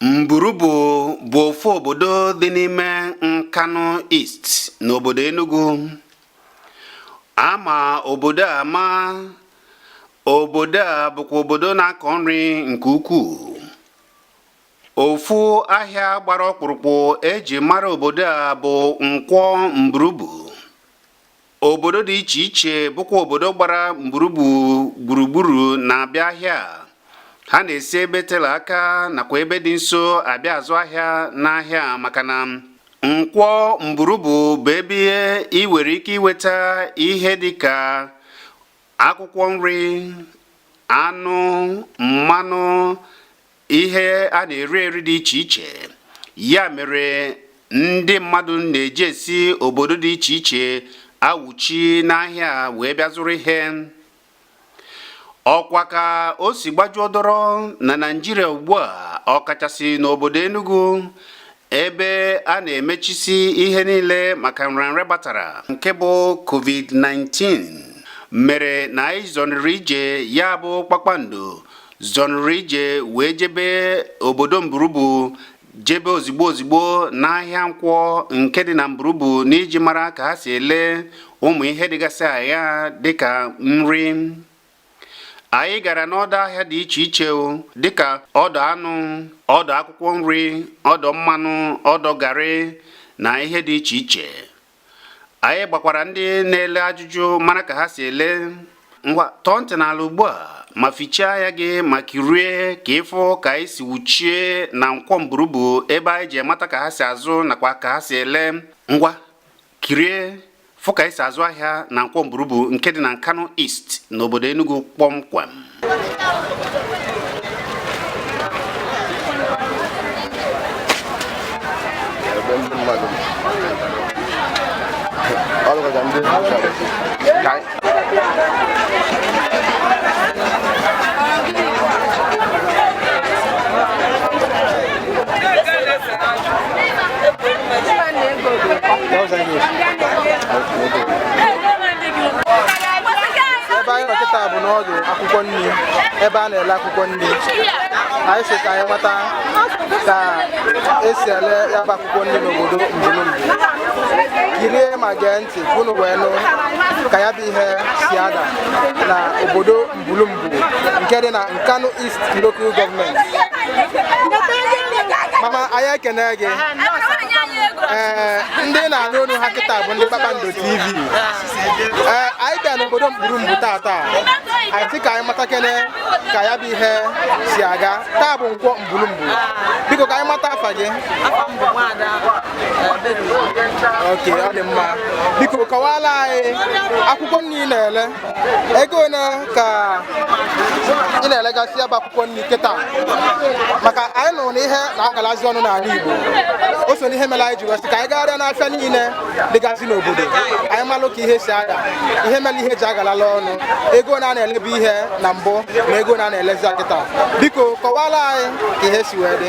Mburubu bụ ofu obodo dị n'ime Nkanu East n'obodo Enugu. A ma obodo a ama. Obodo a bụkwa obodo na-akọ nri nke ukwuu. Ofu ahịa gbara ọkpụrụkpụ e ji mara obodo a bụ Nkwọ Mburubu. obodo dị iche iche bụkwa obodo gbara mburubu gburugburu na-abịa ahịa ha na-esi ebe tela aka nakwa ebe dị nso abịa azụ ahịa n'ahịa maka na nkwọ mburubu bụ ebe ị nwere ike iweta ihe dị ka akwụkwọ nri anụ mmanụ ihe a na-eri eri dị iche iche ya mere ndị mmadụ na-eji esi obodo dị iche iche awụchi n'ahịa wee bịa zụrụ ihe ọkwa ka o si gbajuo dọrọ na Naịjirịa ugbu a ọkachasị n'obodo Enugu ebe a na-emechisi ihe niile maka nrịanrịa batara nke bụ covid-19 mere na anyị zọnịrị ije ya bụ kpakpando zọnịrị ije wee jebe obodo mburubu jebe ozigbo ozigbo n'ahịa nkwọ nke dị na mburubu n'iji mara ka ha si ele ụmụ ihe dịgasị na ya dịka nri anyị gara n'ọdọ ahịa dị iche iche dịka ọdọ anụ ọdọ akwụkwọ nri ọdọ mmanụ ọdọ garị na ihe dị iche iche anyị gbakwara ndị na-ele ajụjụ mara ka ha si ele ngwa tọọ ntị n'ala ugbu a ma fichaa anya gị ma kirie ka ị fụ ka anyị si wụchie na nkwọ mburubu ebe anyị ji mata ka ha si azụ nakwa ka ha si ele ngwa kirie fụ ka e si azụ ahịa na nkwọ mburubu nke dị na Nkanu East n'obodo Enugu kpọmkwem ebe a na-ele akwụkwọ nri anyị sị ka anyị mata ka e si ele ya bụ akwụkwọ nri n'obodo mburubu kirie ma gee ntị unu wee nụ ka ya bụ ihe si ada na obodo mbulumbu nke dị na nkanu east local government mama anyị ekene gị ee ndị na-anụ olu ha kịta bụ ndị kpakpando tv ee anyị bịa n'obodo mburumbu taa taa anyị sị ka anyị matakene ka ya bụ ihe si aga taa bụ nkwọ mbulumbu biko ka anyị mata afa gị okay ọ dị mma biko kọwala anyị akwụkwọ nri ị na-ele ego one ka ị na-elegasị ya bụ akwụkwọ nri kịta maka anyị nụrụ na ihe na-agalazi ọnụ n'ala Igbo o so n'ihe mere anyị ji wee sị ka anyị gagharịa n'afịa niile dịgasị n'obodo anyị malụ ka ihe si aga ihe mere ihe ji agalala ọnụ ego one a na-elebu ihe na mbụ na ego one a na-elezi kịta biko kọwala anyị ka ihe si wee dị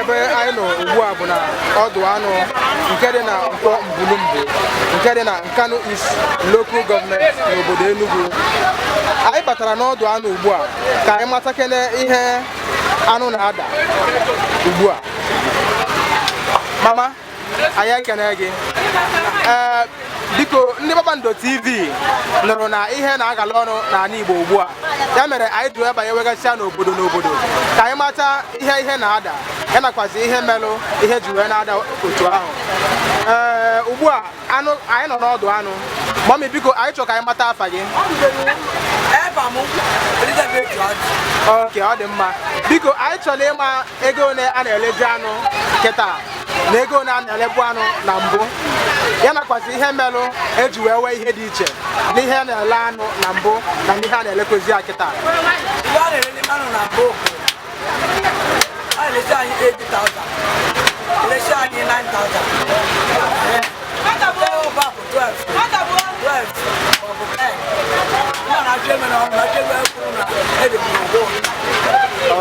ebe anyị nọ ugbu a bụ na ọdụ anụ nke dị na nkwọ mbulumbu nke dị na nkanu east local government n'obodo Enugu anyị batara n'ọdụ anụ ugbu a ka anyị matakene ihe anụ na-ada ugbu a mama anyị ekene gị ee biko ndị kpakpando tv nụrụ na ihe na-agala ọnụ n'ala igbo ugbu a ya mere anyị ji wee banye wegasịa n'obodo n'obodo ka anyị mata ihe ihe na-ada ya nakwazi ihe melụ ihe ji wee na-ada otu ahụ ee ugbu a anyị nọ n'ọdụ anụ mummy biko anyị chọrọ ka anyị mata afa gị ok ọ dị mma biko anyị chọrọ ịma ego one a na-elezi anụ kịta na ego one a na-elebu anụ na mbụ ya nakwazi ihe melụ eji wee wee ihe dị iche n'ihe a na-ele anụ na mbụ na n'ihe a na-elekwezi ya kịta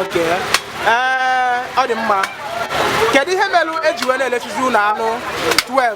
Okay. Eh, ọ dị mma kedu ihe melụ eji wee na-elesizi unu anụ 12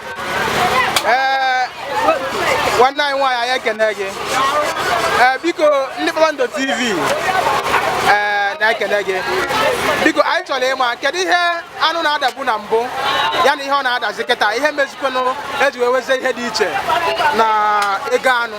ee nwanne anyị nwaanyị anyị ekene gị ee biko ndị kpakpando tv ee na-ekene gị biko anyị chọrọ ịma kedu ihe anụ na-adabu na mbụ ya na ihe ọ na-adazi kịta ihe mezikwenụ eji wee wezie ihe dị iche na ego anụ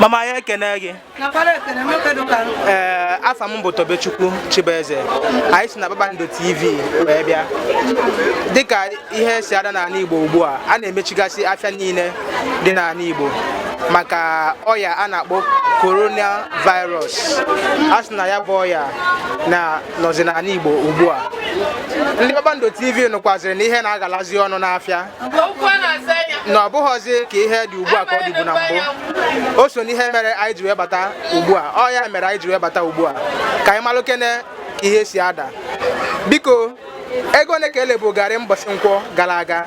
mama ya ekene gị ee afa m bụ Tobechukwu Chibueze anyị si na Kpakpando TV wee bịa dịka ihe si ada n'ala Igbo ugbu a a na-emechigasị afịa niile dị n'ala Igbo maka ọya a na-akpọ coronavirus a sị na ya bụ ọya na nọzi n'ala Igbo ugbu a ndị Kpakpando TV nụkwaziri na ihe na-agalazi ọnụ n'afịa na ọ bụghọzi ka ihe dị ugbu a ka ọ dịbu na mbụ o so n'ihe mere anyị ji wee bata ugbu a ọ ya mere anyị ji wee bata ugbu a ka anyị malụkene ka ihe si ada biko ego one ka e lebu garị mbọsị nkwọ gala aga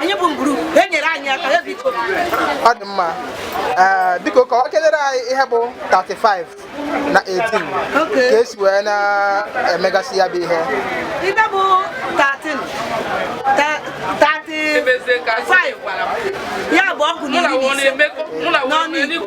anyị bụ mburu e nyere anyị aka ya biko ọ dị mma ee biko kọwakelere anyị ihe bụ 35 na 18 Okay. ka e si wee na-emegasị ya bụ ihe ihe bụ 13 ta- 35 ya bụ ọgụ na iri na ise mụ na n'ọnụ Igbo.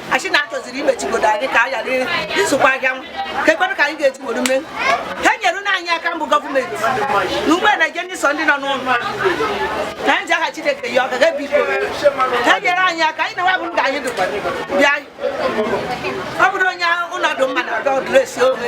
a sị na a chọziri imechigodo anyị ka anyị ghara ịzụkwa ahịa kedụ ka anyị ga-eji were mee ha nyerenụ anyị aka mbụ gọọmenti na ugbe na-eje ndị sọ ndị nọ n'ụlọ na anyị ji aha Chineke yọọ ha biko ha nyere anyị aka anyị na-enwe abụrụ ka anyị dụkwa bịa ọ bụrụ onye ụlọ dụ mma na ọdụ esi onwe